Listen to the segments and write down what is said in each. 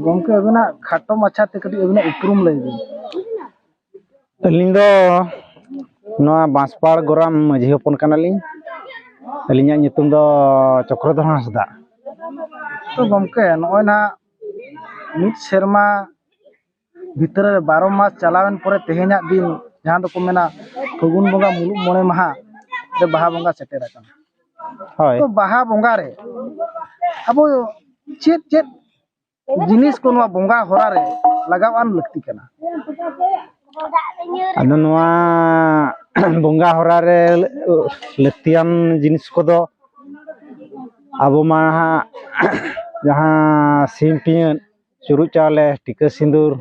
ᱜᱚᱝᱠᱮ ᱟᱵᱤᱱᱟᱜ ᱠᱷᱟᱴᱚ ᱢᱟᱪᱷᱟ ᱛᱮ ᱠᱟᱹᱴᱤᱡ ᱟᱵᱤᱱᱟᱜ ᱩᱯᱨᱩᱢ ᱞᱟᱹᱭ ᱵᱤᱱ ᱟᱹᱞᱤᱧ ᱫᱚ ᱱᱚᱣᱟ ᱵᱟᱸᱥᱯᱟᱲ ᱜᱚᱨᱟᱢ ᱢᱟᱹᱡᱷᱤ ᱦᱚᱯᱚᱱ ᱠᱟᱱᱟᱞᱤᱧ ᱟᱹᱞᱤᱧᱟᱜ ᱧᱩᱛᱩᱢ ᱫᱚ ᱪᱚᱠᱨᱚᱫᱷᱚᱨ ᱦᱟᱸᱥᱫᱟ ᱛᱚ ᱜᱚᱝᱠᱮ ᱱᱚᱜᱼᱚᱭ ᱱᱟᱦᱟᱜ ᱢᱤᱫ ᱥᱮᱨᱢᱟ ᱵᱷᱤᱛᱟᱹᱨ ᱨᱮ ᱵᱟᱨᱚ ᱢᱟᱥ ᱪᱟᱞᱟᱣᱮᱱ ᱯᱚᱨᱮ ᱛᱮᱦᱮᱧᱟᱜ ᱫᱤᱱ ᱡᱟᱦᱟᱸ ᱫᱚᱠᱚ ᱢᱮᱱᱟ ᱯᱷᱟᱹᱜᱩᱱ ᱵᱚᱸᱜᱟ ᱢᱩᱞᱩᱜ ᱢᱚᱬᱮ ᱢᱟᱦᱟ ᱨᱮ ᱵᱟᱦᱟ ᱵᱚᱸᱜᱟ ᱥᱮᱴᱮᱨ ᱟᱠᱟᱱᱟ ᱦᱳᱭ ᱛᱚ ᱵᱟᱦᱟ ᱵᱚᱸᱜᱟ ᱨᱮ ᱟᱵᱚ ᱪᱮᱫ ᱪᱮᱫ ᱡᱤᱱᱤᱥ ᱠᱚ ᱱᱚᱣᱟ ᱵᱚᱸᱜᱟ ᱦᱚᱨᱟ ᱨᱮ ᱞᱟᱜᱟᱣ ᱟᱱ ᱞᱟᱹᱠᱛᱤ ᱠᱟᱱᱟ ᱟᱫᱚ ᱱᱚᱣᱟ ᱵᱚᱸᱜᱟ ᱦᱚᱨᱟ ᱨᱮ ᱞᱟᱹᱠᱛᱤᱭᱟᱱ ᱡᱤᱱᱤᱥ ᱠᱚᱫᱚ ᱟᱵᱚ ᱢᱟ ᱦᱟᱸᱜ ᱡᱟᱦᱟᱸ ᱥᱤᱢ ᱯᱤᱭᱟᱹᱜ ᱪᱩᱨᱩᱡ ᱪᱟᱣᱞᱮ ᱴᱤᱠᱟᱹ ᱥᱤᱸᱫᱩᱨ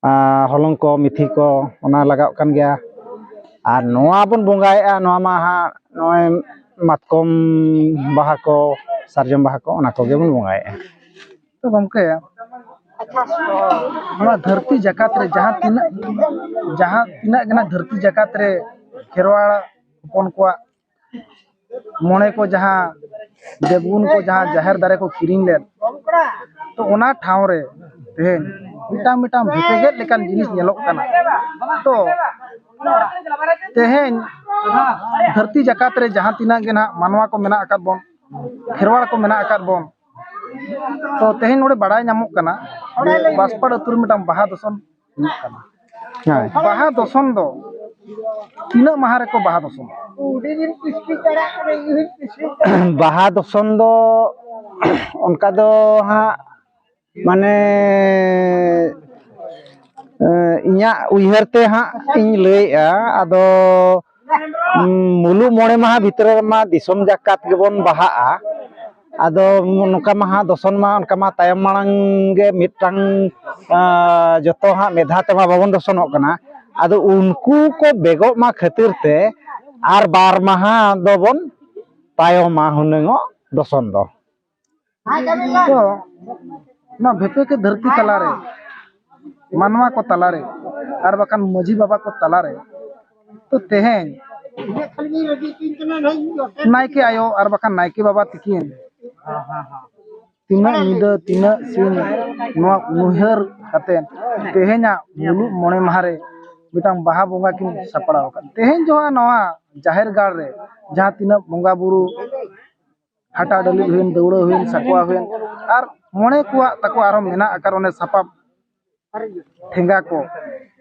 ᱟᱨ ᱦᱚᱞᱚᱝ ᱠᱚ ᱢᱤᱛᱷᱤ ᱠᱚ ᱚᱱᱟ ᱞᱟᱜᱟᱜ ᱠᱟᱱ ᱜᱮᱭᱟ ᱟᱨ ᱱᱚᱣᱟ ᱵᱚᱱ ᱵᱚᱸᱜᱟᱭᱮᱫᱼᱟ ᱱᱚᱣᱟ ᱢᱟ ᱦᱟᱸᱜ ᱱᱚᱜᱼᱚᱸᱭ ᱢᱟᱛᱠᱚᱢ ᱵᱟᱦᱟ ᱠᱚ ᱥᱟᱨᱡᱚᱢ ᱵᱟᱦᱟ ᱠᱚ ᱚᱱᱟ ᱠᱚᱜᱮ ᱵᱚᱱ ᱵᱚᱸᱜᱟᱭᱮᱫᱼᱟ ᱛᱚ ᱜᱚᱢᱠᱮ ᱱᱚᱣᱟ ᱫᱷᱟᱹᱨᱛᱤ ᱡᱟᱠᱟᱛ ᱨᱮ ᱡᱟᱦᱟᱸ ᱛᱤᱱᱟᱹᱜ ᱡᱟᱦᱟᱸ ᱛᱤᱱᱟᱹᱜ ᱜᱮ ᱦᱟᱸᱜ ᱫᱷᱟᱹᱨᱛᱤ ᱡᱟᱠᱟᱛ ᱨᱮ ᱠᱷᱮᱨᱣᱟᱲ ᱦᱚᱯᱚᱱ ᱠᱚᱣᱟᱜ ᱢᱚᱬᱮ ᱠᱚ ᱡᱟᱦᱟᱸ ᱫᱮᱵᱽᱜᱩᱱ ᱠᱚ ᱡᱟᱦᱟᱸ ᱡᱟᱦᱮᱨ ᱫᱟᱨᱮ ᱠᱚ ᱠᱤᱨᱤᱧ ᱞᱮᱫ ᱛᱚ ᱚᱱᱟ ᱴᱷᱟᱶ ᱨᱮ ᱛᱮᱦᱮᱧ ᱢᱤᱫᱴᱟᱝ ᱢᱤᱫᱴᱟᱝ ᱵᱷᱮᱯᱮᱜᱮᱫ ᱞᱮᱠᱟᱱ ᱡᱤᱱᱤᱥ ᱧᱮᱞᱚᱜ ᱠᱟᱱᱟ ᱛᱚ ᱛᱮᱦᱮᱧ ᱫᱷᱟᱹᱨᱛᱤ ᱡᱟᱠᱟᱛ ᱨᱮ ᱡᱟᱦᱟᱸ ᱛᱤᱱᱟᱹᱜ ᱜᱮ ᱱᱟᱦᱟᱜ ᱢᱟᱱᱣᱟ ᱠᱚ ᱢᱮᱱᱟᱜ ᱟᱠᱟᱫ ᱵᱚᱱ ᱠᱷᱮᱨᱣᱟᱲ ᱠᱚ ᱢᱮᱱᱟᱜ ᱟᱠᱟᱫ ᱵᱚᱱ ᱛᱚ ᱛᱮᱦᱮᱧ ᱱᱚᱰᱮ ᱵᱟᱲᱟᱭ ᱧᱟᱢᱚᱜ ᱠᱟᱱᱟ ᱵᱟᱥᱯᱟᱲ ᱟᱹᱛᱩ ᱨᱮ ᱢᱤᱫᱴᱟᱝ ᱵᱟᱦᱟ ᱫᱚᱥᱚᱱ ᱦᱩᱭᱩᱜ ᱠᱟᱱᱟ ᱦᱳᱭ ᱵᱟᱦᱟ ᱫᱚᱥᱚᱱ ᱫᱚ ᱛᱤᱱᱟᱹᱜ ᱢᱟᱦᱟ ᱨᱮᱠᱚ ᱵᱟᱦᱟ ᱫᱚᱥᱚᱱ ᱵᱟᱦᱟ ᱫᱚᱥᱚᱱ ᱫᱚ ᱚᱱᱠᱟ ᱫᱚ ᱦᱟᱸᱜ ᱢᱟᱱᱮ ᱤᱧᱟᱹᱜ ᱩᱭᱦᱟᱹᱨ ᱛᱮ ᱦᱟᱸᱜ ᱤᱧ ᱞᱟᱹᱭᱮᱜᱼᱟ ᱟᱫᱚ ᱢᱩᱞᱩᱜ ᱢᱚᱬᱮ ᱢᱟᱦᱟ ᱵᱷᱤᱛᱨᱤ ᱨᱮᱢᱟ ᱫᱤᱥᱚᱢ ᱡᱟᱠᱟᱛ ᱜᱮᱵᱚᱱ ᱵᱟᱦᱟᱜᱼᱟ ᱟᱫᱚ ᱱᱚᱝᱠᱟ ᱢᱟᱦᱟ ᱫᱚᱥᱚᱱ ᱢᱟ ᱚᱱᱠᱟ ᱢᱟ ᱛᱟᱭᱚᱢ ᱢᱟᱲᱟᱝ ᱜᱮ ᱢᱤᱫᱴᱟᱝ ᱡᱚᱛᱚ ᱦᱟᱸᱜ ᱢᱤᱫ ᱫᱷᱟᱣ ᱛᱮᱢᱟ ᱵᱟᱵᱚᱱ ᱫᱚᱥᱚᱱᱚᱜ ᱠᱟᱱᱟ ᱟᱫᱚ ᱩᱱᱠᱩ ᱠᱚ ᱵᱮᱜᱚᱜ ᱢᱟ ᱠᱷᱟᱹᱛᱤᱨ ᱛᱮ ᱟᱨ ᱵᱟᱨ ᱢᱟᱦᱟ ᱫᱚᱵᱚᱱ ᱛᱟᱭᱚᱢᱟ ᱦᱩᱱᱟᱹᱝᱚᱜ ᱫᱚᱥᱚᱱ ᱫᱚ ᱛᱚ ᱱᱚᱣᱟ ᱵᱷᱮᱯᱮᱠᱮ ᱫᱷᱟᱹᱨᱛᱤ ᱛᱟᱞᱟᱨᱮ ᱢᱟᱱᱣᱟ ᱠᱚ ᱛᱟᱞᱟᱨᱮ ᱟᱨ ᱵᱟᱠᱷᱟᱱ ᱢᱟᱹᱡᱷᱤ ᱵᱟᱵᱟ ᱠᱚ ᱛᱟᱞᱟᱨᱮ ᱛᱚ ᱛᱮᱦᱮᱧ ᱱᱟᱭᱠᱮ ᱟᱭᱳ ᱟᱨ ᱵᱟᱠᱷᱟᱱ ᱱᱟᱭᱠᱮ ᱵᱟᱵᱟ ᱛᱤᱠᱤᱱ ᱛᱤᱱᱟᱹᱜ ᱧᱤᱫᱟᱹ ᱛᱤᱱᱟᱹᱜ ᱥᱤᱧ ᱱᱚᱣᱟ ᱩᱭᱦᱟᱹᱨ ᱠᱟᱛᱮ ᱛᱮᱦᱮᱧᱟᱜ ᱢᱩᱞᱩᱜ ᱢᱚᱬᱮ ᱢᱟᱦᱟ ᱨᱮ ᱢᱤᱫᱴᱟᱝ ᱵᱟᱦᱟ ᱵᱚᱸᱜᱟ ᱠᱤᱱ ᱥᱟᱯᱲᱟᱣ ᱟᱠᱟᱫ ᱛᱮᱦᱮᱧ ᱡᱚᱦᱟᱜ ᱱᱚᱣᱟ ᱡᱟᱦᱮᱨ ᱜᱟᱲ ᱨᱮ ᱡᱟᱦᱟᱸ ᱛᱤᱱᱟᱹᱜ ᱵᱚᱸᱜᱟ ᱵᱩᱨᱩ ᱦᱟᱴᱟᱜ ᱰᱟᱹᱞᱤᱡ ᱦᱩᱭᱮᱱ ᱫᱟᱹᱣᱲᱟᱹ ᱦᱩᱭᱮᱱ ᱥᱟᱠᱣᱟ ᱦᱩᱭᱮᱱ ᱟᱨ ᱢᱚᱬᱮ ᱠᱚᱣᱟᱜ ᱛᱟᱠᱚ ᱟᱨᱚ ᱢᱮᱱᱟᱜ ᱟᱠᱟᱫ ᱚᱱᱮ ᱥᱟᱯᱟᱵ ᱴᱷᱮᱸᱜᱟ ᱠᱚ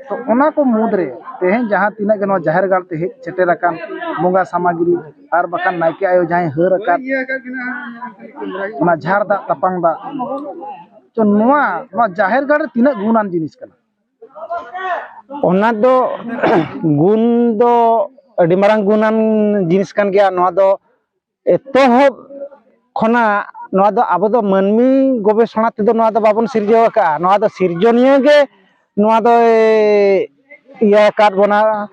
ᱛᱚ ᱚᱱᱟ ᱠᱚ ᱢᱩᱫᱽᱨᱮ ᱛᱮᱦᱮᱧ ᱡᱟᱦᱟᱸ ᱛᱤᱱᱟᱹᱜ ᱜᱮ ᱱᱚᱣᱟ ᱡᱟᱦᱮᱨ ᱜᱟᱲ ᱛᱮ ᱦᱮᱡ ᱥᱮᱴᱮᱨ ᱟᱠᱟᱱ ᱵᱚᱸᱜᱟ ᱥᱟᱢᱟᱜᱽᱨᱤ ᱟᱨ ᱵᱟᱠᱷᱟᱱ ᱱᱟᱭᱠᱮ ᱟᱭᱳ ᱡᱟᱦᱟᱸᱭ ᱦᱟᱹᱨ ᱟᱠᱟᱫ ᱚᱱᱟ ᱡᱷᱟᱨ ᱫᱟᱜ ᱛᱟᱯᱟᱝ ᱫᱟᱜ ᱛᱚ ᱱᱚᱣᱟ ᱱᱚᱣᱟ ᱡᱟᱦᱮᱨ ᱜᱟᱲ ᱨᱮ ᱛᱤᱱᱟᱹᱜ ᱜᱩᱱᱟᱱ ᱡᱤᱱᱤᱥ ᱠᱟᱱᱟ ᱚᱱᱟ ᱫᱚ ᱜᱩᱱ ᱫᱚ ᱟᱹᱰᱤ ᱢᱟᱨᱟᱝ ᱜᱩᱱᱟᱱ ᱡᱤᱱᱤᱥ ᱠᱟᱱ ᱜᱮᱭᱟ ᱱᱚᱣᱟ ᱫᱚ ᱮᱛᱚᱦᱚᱵ ᱠᱷᱚᱱᱟᱜ ᱱᱚᱣᱟ ᱫᱚ ᱟᱵᱚ ᱫᱚ ᱢᱟᱹᱱᱢᱤ ᱜᱚᱵᱮᱥᱚᱱᱟ ᱛᱮᱫᱚ ᱱᱚᱣᱟ ᱫᱚ ᱵᱟᱵᱚᱱ ᱥᱤᱨᱡᱟᱹᱣ ᱟᱠᱟᱫᱼᱟ ᱱᱚᱣᱟ ᱫᱚ ᱥᱤᱨᱡᱚᱱᱤᱭᱟᱹ ᱜᱮ ᱱᱚᱣᱟ ᱫᱚᱭ ᱤᱭᱟᱹ ᱟᱠᱟᱫ ᱵᱚᱱᱟ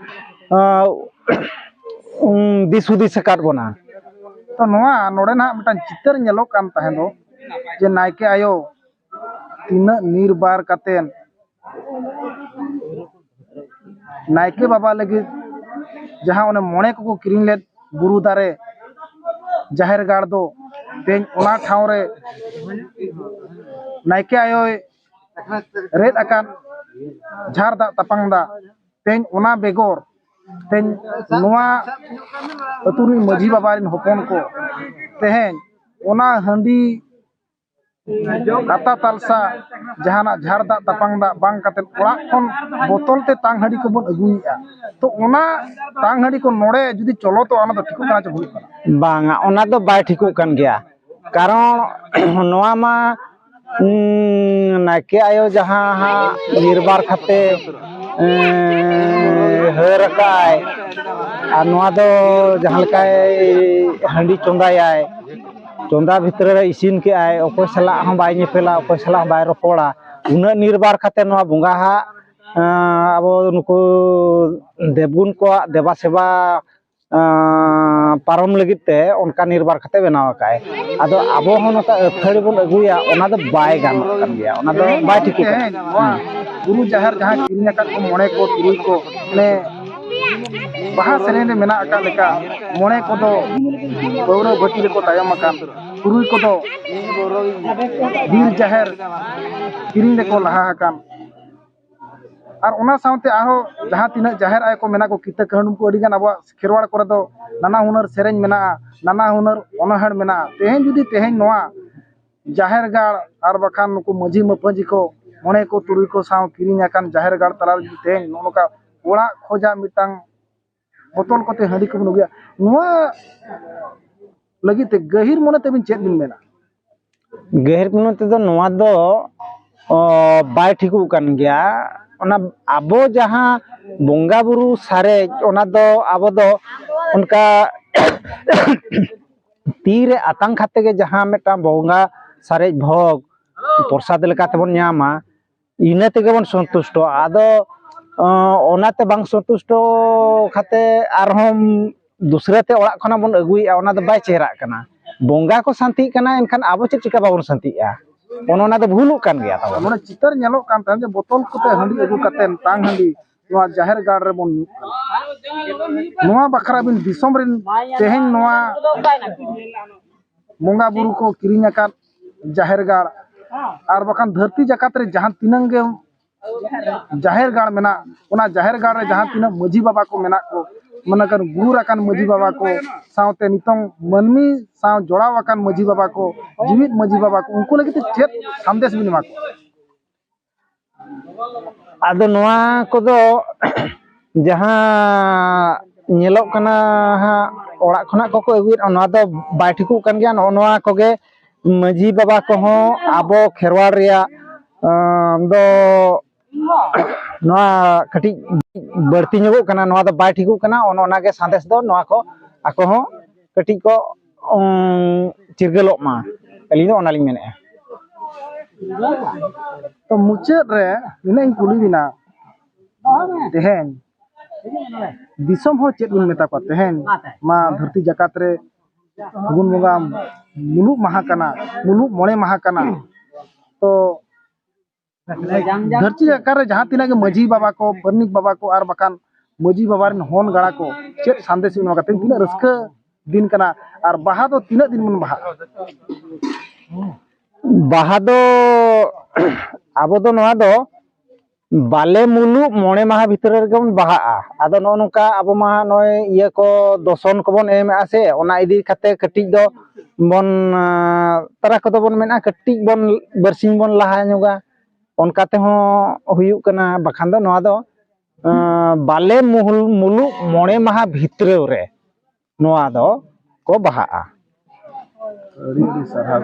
ᱫᱤᱥ ᱦᱩᱫᱤᱥ ᱟᱠᱟᱫ ᱵᱚᱱᱟ ᱛᱚ ᱱᱚᱣᱟ ᱱᱚᱰᱮ ᱱᱟᱦᱟᱜ ᱢᱤᱫᱴᱟᱝ ᱪᱤᱛᱟᱹᱨ ᱧᱮᱞᱚᱜ ᱠᱟᱱ ᱛᱟᱦᱮᱸ ᱫᱚ ᱡᱮ ᱱᱟᱭᱠᱮ ᱟᱭᱳ ᱛᱤᱱᱟᱹᱜ ᱱᱤᱨᱵᱟᱨ ᱠᱟᱛᱮᱫ ᱱᱟᱭᱠᱮ ᱵᱟᱵᱟ ᱞᱟᱹᱜᱤᱫ ᱡᱟᱦᱟᱸ ᱚᱱᱮ ᱢᱚᱬᱮ ᱠᱚᱠᱚ ᱠᱤᱨᱤᱧ ᱞᱮᱫ ᱵᱩᱨᱩ ᱫᱟᱨᱮ ᱡᱟᱦᱮᱨ ᱜᱟᱲ ᱫᱚ ᱛᱮᱦᱮᱧ ᱚᱱᱟ ᱴᱷᱟᱶ ᱨᱮ ᱱᱟᱭᱠᱮ ᱟᱭᱳᱭ ᱨᱮᱫ ᱟᱠᱟᱫ ᱡᱷᱟᱨ ᱫᱟᱜ ᱛᱟᱯᱟᱝ ᱫᱟᱜ ᱛᱮᱦᱮᱧ ᱚᱱᱟ ᱵᱮᱜᱚᱨ ᱛᱮᱦᱮᱧ ᱱᱚᱣᱟ ᱟᱹᱛᱩ ᱨᱤᱱ ᱢᱟᱹᱡᱷᱤ ᱵᱟᱵᱟ ᱨᱤᱱ ᱦᱚᱯᱚᱱ ᱠᱚ ᱛᱮᱦᱮᱧ ᱚᱱᱟ ᱦᱟᱺᱰᱤ ᱠᱟᱛᱟ ᱛᱟᱞᱥᱟ ᱡᱟᱦᱟᱱᱟᱜ ᱡᱷᱟᱨ ᱫᱟᱜ ᱛᱟᱯᱟᱝ ᱫᱟᱜ ᱵᱟᱝ ᱠᱟᱛᱮ ᱚᱲᱟᱜ ᱠᱷᱚᱱ ᱵᱚᱛᱚᱞ ᱛᱮ ᱛᱟᱝ ᱦᱟᱺᱰᱤ ᱠᱚᱵᱚᱱ ᱟᱹᱜᱩᱭᱮᱜᱼᱟ ᱛᱚ ᱚᱱᱟ ᱛᱟᱝ ᱦᱟᱺᱰᱤ ᱠᱚ ᱱᱚᱰᱮ ᱡᱩᱫᱤ ᱪᱚᱞᱚᱛᱚᱜᱼᱟ ᱚᱱᱟ ᱫᱚ ᱴᱷᱤᱠᱚᱜ ᱠᱟᱱᱟ ᱪᱮ ᱵᱷᱩᱞᱩᱜ ᱠᱟᱱᱟ ᱵᱟᱝᱟ ᱚᱱᱟ ᱫᱚ ᱵᱟᱭ ᱴᱷᱤᱠᱚᱜ ᱠᱟᱱ ᱜᱮᱭᱟ ᱠᱟᱨᱚᱱ ᱱᱚᱣᱟ ᱢᱟ ᱱᱟᱭᱠᱮ ᱟᱭᱳ ᱡᱟᱦᱟᱸ ᱦᱟᱸᱜ ᱱᱤᱨᱵᱟᱨ ᱠᱟᱛᱮ ᱦᱟᱹᱨ ᱟᱠᱟᱭ ᱟᱨ ᱱᱚᱣᱟ ᱫᱚ ᱡᱟᱦᱟᱸ ᱞᱮᱠᱟᱭ ᱦᱟᱺᱰᱤ ᱪᱚᱸᱫᱟᱭᱟᱭ ᱪᱚᱸᱫᱟ ᱵᱷᱤᱛᱨᱤ ᱨᱮ ᱤᱥᱤᱱ ᱠᱮᱜᱼᱟᱭ ᱚᱠᱚᱭ ᱥᱟᱞᱟᱜ ᱦᱚᱸ ᱵᱟᱭ ᱧᱮᱯᱮᱞᱟ ᱚᱠᱚᱭ ᱥᱟᱞᱟᱜ ᱦᱚᱸ ᱵᱟᱭ ᱨᱚᱯᱚᱲᱟ ᱩᱱᱟᱹᱜ ᱱᱤᱨᱵᱟᱨ ᱠᱟᱛᱮ ᱱᱚᱣᱟ ᱵᱚᱸᱜᱟ ᱦᱟᱜ ᱟᱵᱚ ᱱᱩᱠᱩ ᱫᱮᱵᱽᱜᱩᱱ ᱠᱚᱣᱟᱜ ᱫᱮᱵᱟ ᱥᱮᱵᱟ ᱯᱟᱨᱚᱢ ᱞᱟᱹᱜᱤᱫ ᱛᱮ ᱚᱱᱠᱟ ᱱᱤᱨᱵᱟᱨ ᱠᱟᱛᱮ ᱵᱮᱱᱟᱣ ᱟᱠᱟᱫ ᱟᱭ ᱟᱫᱚ ᱟᱵᱚ ᱦᱚᱸ ᱱᱚᱝᱠᱟ ᱟᱹᱛᱷᱟᱹᱲᱤ ᱵᱚᱱ ᱟᱹᱜᱩᱭᱟ ᱚᱱᱟ ᱫᱚ ᱵᱟᱭ ᱜᱟᱱᱚᱜ ᱠᱟᱱ ᱜᱮᱭᱟ ᱚᱱᱟ ᱫᱚ ᱵᱟᱭ ᱴᱷᱤᱠᱚᱜ ᱠᱟᱱᱟ ᱵᱩᱨᱩ ᱡᱟᱦᱮᱨ ᱡᱟᱦᱟᱸ ᱠᱤᱨᱤᱧ ᱟᱠᱟᱫ ᱠᱚ ᱢᱚᱬᱮ ᱠᱚ ᱛᱩᱨᱩᱭ ᱠᱚ ᱢᱟᱱᱮ ᱵᱟᱦᱟ ᱥᱮᱨᱮᱧ ᱨᱮ ᱢᱮᱱᱟᱜ ᱟᱠᱟᱫ ᱞᱮᱠᱟ ᱢᱚᱬᱮ ᱠᱚᱫᱚ ᱯᱟᱹᱣᱨᱟᱹ ᱵᱷᱟᱹᱴᱤ ᱨᱮᱠᱚ ᱛᱟᱭᱚᱢ ᱟᱠᱟᱱ ᱛᱩᱨᱩᱭ ᱠᱚᱫᱚ ᱵᱤᱨ ᱡᱟᱦᱮᱨ ᱠᱤᱨᱤᱧ ᱨᱮᱠᱚ ᱞᱟᱦᱟ ᱟᱠᱟᱱ ᱟᱨ ᱚᱱᱟ ᱥᱟᱶᱛᱮ ᱟᱨᱦᱚᱸ ᱡᱟᱦᱟᱸ ᱛᱤᱱᱟᱹᱜ ᱡᱟᱦᱮᱨ ᱟᱭᱳ ᱠᱚ ᱢᱮᱱᱟᱜ ᱠᱚ ᱠᱤᱛᱟᱹ ᱠᱟᱹᱦᱩᱱ ᱠᱚ ᱟᱹᱰᱤᱜᱟᱱ ᱟᱵᱚᱣᱟᱜ ᱠᱷᱮᱨᱣᱟᱲ ᱠᱚᱨᱮ ᱫᱚ ᱱᱟᱱᱟ ᱦᱩᱱᱟᱹᱨ ᱥᱮᱨᱮᱧ ᱢᱮᱱᱟᱜᱼᱟ ᱱᱟᱱᱟ ᱦᱩᱱᱟᱹᱨ ᱚᱱᱚᱬᱦᱮ ᱢᱮᱱᱟᱜᱼᱟ ᱛᱮᱦᱮᱧ ᱡᱩᱫᱤ ᱛᱮᱦᱮᱧ ᱱᱚᱣᱟ ᱡᱟᱦᱮᱨ ᱜᱟᱲ ᱟᱨ ᱵᱟᱠᱷᱟᱱ ᱱᱩᱠᱩ ᱢᱟᱹᱡᱷᱤ ᱢᱟᱯᱟᱹᱡᱷᱤ ᱠᱚ ᱢᱚᱬᱮ ᱠᱚ ᱛᱩᱨᱩᱭ ᱠᱚ ᱥᱟᱶ ᱠᱤᱨᱤᱧ ᱟᱠᱟᱱ ᱡᱟᱦᱮᱨ ᱜᱟᱲ ᱛᱟᱞᱟ ᱨᱮ ᱛᱮᱦᱮᱧ ᱱᱚᱜᱼᱚ ᱱᱚᱝᱠᱟ ᱚᱲᱟᱜ ᱠᱷᱚᱱᱟᱜ ᱢᱤᱫᱴᱟᱝ ᱵᱚᱛᱚᱞ ᱠᱚᱛᱮ ᱦᱟᱺᱰᱤ ᱠᱚᱵᱚᱱ ᱟᱹᱜᱩᱭᱟ ᱱᱚᱣᱟ ᱞᱟᱹᱜᱤᱫ ᱛᱮ ᱜᱟᱹᱦᱤᱨ ᱢᱚᱱᱮ ᱛᱮᱵᱤᱱ ᱪᱮᱫ ᱵᱤᱱ ᱢᱮᱱᱟ ᱜᱟᱹᱦᱤᱨ ᱢᱚᱱᱮ ᱛᱮᱫᱚ ᱱᱚᱣᱟ ᱫᱚ ᱵᱟᱭ ᱴᱷᱤᱠᱚᱜ ᱠᱟᱱ ᱜᱮᱭᱟ ᱚᱱᱟ ᱟᱵᱚ ᱡᱟᱦᱟᱸ ᱵᱚᱸᱜᱟ ᱵᱩᱨᱩ ᱥᱟᱨᱮᱡ ᱚᱱᱟ ᱫᱚ ᱟᱵᱚ ᱫᱚ ᱚᱱᱠᱟ ᱛᱤᱨᱮ ᱟᱛᱟᱝ ᱠᱟᱛᱮ ᱜᱮ ᱡᱟᱦᱟᱸ ᱢᱤᱫᱴᱟᱝ ᱵᱚᱸᱜᱟ ᱥᱟᱨᱮᱡ ᱵᱷᱚᱜᱽ ᱯᱨᱚᱥᱟᱫ ᱞᱮᱠᱟ ᱛᱮᱵᱚᱱ ᱧᱟᱢᱟ ᱤᱱᱟᱹ ᱛᱮᱜᱮ ᱵᱚᱱ ᱥᱚᱱᱛᱩᱥᱴᱚᱜᱼᱟ ᱟᱫᱚ ᱚᱱᱟᱛᱮ ᱵᱟᱝ ᱥᱚᱱᱛᱩᱥᱴᱚ ᱠᱟᱛᱮ ᱟᱨᱦᱚᱸ ᱫᱩᱥᱨᱟᱹ ᱛᱮ ᱚᱲᱟᱜ ᱠᱷᱚᱱᱟᱜ ᱵᱚᱱ ᱟᱹᱜᱩᱭᱮᱜᱼᱟ ᱚᱱᱟ ᱫᱚ ᱵᱟᱭ ᱪᱮᱦᱨᱟᱜ ᱠᱟᱱᱟ ᱵᱚᱸᱜᱟ ᱠᱚ ᱥᱟᱱᱛᱤᱜ ᱠᱟᱱᱟ ᱮᱱᱠᱷᱟᱱ ᱟᱵᱚ ᱪᱮᱫ ᱪᱤᱠᱟ ᱵᱟᱵᱚᱱ ᱥᱟᱱᱛᱤᱜᱼᱟ ᱚᱱᱟ ᱫᱚ ᱵᱷᱩᱞᱩᱜ ᱠᱟᱱ ᱜᱮᱭᱟ ᱛᱟᱵᱚᱱ ᱢᱟᱱᱮ ᱪᱤᱛᱟᱹᱨ ᱧᱮᱞᱚᱜ ᱠᱟᱱ ᱛᱟᱦᱮᱸᱫ ᱡᱮ ᱵᱚᱛᱚᱞ ᱠᱚᱛᱮ ᱦᱟᱺᱰᱤ ᱟᱹᱜᱩ ᱠᱟᱛᱮᱫ ᱛᱟᱝ ᱦᱟᱺᱰᱤ ᱱᱚᱣᱟ ᱡᱟᱦᱮᱨ ᱜᱟᱲ ᱨᱮᱵᱚᱱ ᱧᱩᱜ ᱠᱟᱱᱟ ᱱᱚᱣᱟ ᱵᱟᱠᱷᱨᱟ ᱵᱤᱱ ᱫᱤᱥᱚᱢ ᱨᱮᱱ ᱛᱮᱦᱮᱧ ᱱᱚᱣᱟ ᱵᱚᱸᱜᱟ ᱵᱩᱨᱩ ᱠᱚ ᱠᱤᱨᱤᱧ ᱟᱠᱟᱫ ᱡᱟᱦᱮᱨ ᱜᱟᱲ ᱟᱨ ᱵᱟᱠᱷᱟᱱ ᱫᱷᱟᱹᱨᱛᱤ ᱡᱟᱠᱟᱛ ᱨᱮ ᱡᱟᱦᱟᱸ ᱛᱤᱱᱟᱹᱝ ᱜᱮ ᱡᱟᱦᱮᱨ ᱜᱟᱲ ᱢᱮᱱᱟᱜ ᱚᱱᱟ ᱡᱟᱦᱮᱨ ᱜᱟᱲ ᱨᱮ ᱡᱟᱦᱟᱸ ᱛᱤᱱᱟᱹᱜ ᱢᱟᱹᱡᱷᱤ ᱵᱟᱵᱟ ᱠᱚ ᱢᱮᱱᱟᱜ ᱠᱚ ᱢᱟᱱᱮ ᱠᱟᱱ ᱜᱩᱨ ᱟᱠᱟᱱ ᱢᱟᱹᱡᱷᱤ ᱵᱟᱵᱟ ᱠᱚ ᱥᱟᱶᱛᱮ ᱱᱤᱛᱚᱝ ᱢᱟᱹᱱᱢᱤ ᱥᱟᱶ ᱡᱚᱲᱟᱣ ᱟᱠᱟᱱ ᱢᱟᱹᱡᱷᱤ ᱵᱟᱵᱟ ᱠᱚ ᱡᱤᱣᱤᱫ ᱢᱟᱹᱡᱷᱤ ᱵᱟᱵᱟ ᱠᱚ ᱩᱱᱠᱩ ᱞᱟᱹᱜᱤᱫ ᱛᱮ ᱪᱮᱫ ᱥᱟᱸᱫᱮᱥ ᱵᱤᱱ ᱮᱢᱟ ᱠᱚᱣᱟ ᱟᱫᱚ ᱱᱚᱣᱟ ᱠᱚᱫᱚ ᱡᱟᱦᱟᱸ ᱧᱮᱞᱚᱜ ᱠᱟᱱᱟ ᱦᱟᱸᱜ ᱚᱲᱟᱜ ᱠᱷᱚᱱᱟᱜ ᱠᱚᱠᱚ ᱟᱹᱜᱩᱭᱮᱫ ᱚᱱᱟ ᱫᱚ ᱵᱟᱭ ᱴᱷᱤᱠᱚᱜ ᱠᱟᱱ ᱜᱮᱭᱟ ᱱᱚᱜᱼᱚ ᱱᱚᱣᱟ ᱠᱚᱜᱮ ᱢᱟᱺᱡᱷᱤ ᱵᱟᱵᱟ ᱠᱚᱦᱚᱸ ᱟᱵᱚ ᱠᱷᱮᱨᱣᱟᱲ ᱨᱮᱭᱟᱜ ᱫᱚ ᱱᱚᱣᱟ ᱠᱟᱹᱴᱤᱡ ᱵᱟᱹᱲᱛᱤ ᱧᱚᱜᱚᱜ ᱠᱟᱱᱟ ᱱᱚᱣᱟ ᱫᱚ ᱵᱟᱭ ᱴᱷᱤᱠᱚᱜ ᱠᱟᱱᱟ ᱚᱱᱮ ᱚᱱᱟᱜᱮ ᱥᱟᱸᱫᱮᱥ ᱫᱚ ᱱᱚᱣᱟ ᱠᱚ ᱟᱠᱚ ᱦᱚᱸ ᱠᱟᱹᱴᱤᱡ ᱠᱚ ᱪᱤᱨᱜᱟᱹᱞᱚᱜ ᱢᱟ ᱟᱹᱞᱤᱧ ᱫᱚ ᱚᱱᱟᱞᱤᱧ ᱢᱮᱱᱮᱫᱼᱟ ᱛᱚ ᱢᱩᱪᱟᱹᱫ ᱨᱮ ᱱᱤᱱᱟᱹᱜ ᱤᱧ ᱠᱩᱞᱤ ᱵᱮᱱᱟ ᱛᱮᱦᱮᱧ ᱫᱤᱥᱚᱢ ᱦᱚᱲ ᱪᱮᱫ ᱵᱚᱱ ᱢᱮᱛᱟ ᱠᱚᱣᱟ ᱛᱮᱦᱮᱧ ᱢᱟ ᱫᱷᱟᱹᱨᱛᱤ ᱡᱟᱠᱟᱛ ᱨᱮ ᱯᱷᱟᱹᱜᱩᱱ ᱵᱚᱸᱜᱟ ᱢᱩᱞᱩᱜ ᱢᱟᱦᱟ ᱠᱟᱱᱟ ᱢᱩᱞᱩᱜ ᱢᱚᱬᱮ ᱢᱟᱦᱟ ᱠᱟᱱᱟ ᱛᱚ ᱫᱷᱟᱹᱨᱛᱤ ᱟᱠᱟᱨ ᱨᱮ ᱡᱟᱦᱟᱸ ᱛᱤᱱᱟᱹᱜ ᱜᱮ ᱢᱟᱹᱡᱷᱤ ᱵᱟᱵᱟ ᱠᱚ ᱯᱟᱨᱟᱱᱤᱠ ᱵᱟᱵᱟ ᱠᱚ ᱟᱨ ᱵᱟᱠᱷᱟᱱ ᱢᱟᱹᱡᱷᱤ ᱵᱟᱵᱟ ᱨᱮᱱ ᱦᱚᱱ ᱜᱟᱬᱟ ᱠᱚ ᱪᱮᱫ ᱥᱟᱸᱫᱮᱥ ᱵᱤᱱ ᱮᱢᱟ ᱠᱟᱛᱮᱫ ᱛᱤᱱᱟᱹᱜ ᱨᱟᱹᱥᱠᱟᱹ ᱫᱤᱱ ᱠᱟᱱᱟ ᱟᱨ ᱵᱟᱦᱟ ᱫᱚ ᱛᱤᱱᱟᱹᱜ ᱫᱤᱱ ᱵᱚᱱ ᱵᱟᱦᱟᱜᱼᱟ ᱵᱟᱦᱟ ᱫᱚ ᱟᱵᱚ ᱫᱚ ᱱᱚᱣᱟ ᱫᱚ ᱵᱟᱞᱮ ᱢᱩᱞᱩᱜ ᱢᱚᱬᱮ ᱢᱟᱦᱟ ᱵᱷᱤᱛᱨᱤ ᱨᱮᱜᱮ ᱵᱚᱱ ᱵᱟᱦᱟᱜᱼᱟ ᱟᱫᱚ ᱱᱚᱜᱼᱚ ᱱᱚᱝᱠᱟ ᱟᱵᱚ ᱢᱟ ᱱᱚᱜᱼᱚᱭ ᱤᱭᱟᱹ ᱠᱚ ᱫᱚᱥᱚᱱ ᱠᱚᱵᱚᱱ ᱮᱢᱮᱜᱼᱟ ᱥᱮ ᱚᱱᱟ ᱤᱫᱤ ᱠᱟᱛᱮᱫ ᱠᱟᱹᱴᱤᱡ ᱫᱚ ᱵᱚᱱ ᱛᱟᱨᱟ ᱠᱚᱫᱚ ᱵᱚᱱ ᱢᱮᱱᱟ ᱠᱟᱹᱴᱤᱡ ᱵᱚᱱ ᱵᱟᱨᱥᱤᱧ ᱵᱚᱱ ᱞᱟᱦᱟ ᱧᱚᱜᱟ ᱚᱱᱠᱟ ᱛᱮᱦᱚᱸ ᱦᱩᱭᱩᱜ ᱠᱟᱱᱟ ᱵᱟᱠᱷᱟᱱ ᱫᱚ ᱱᱚᱣᱟ ᱫᱚ ᱵᱟᱞᱮ ᱢᱩᱦᱩᱞ ᱢᱩᱞᱩᱜ ᱢᱚᱬᱮ ᱢᱟᱦᱟ ᱵᱷᱤᱛᱨᱟᱹ ᱨᱮ ᱱᱚᱣᱟ ᱫᱚ ᱠᱚ ᱵᱟᱦᱟᱜᱼᱟ ᱟᱹᱰᱤ ᱟᱹᱰᱤ ᱥᱟᱨᱦᱟᱣ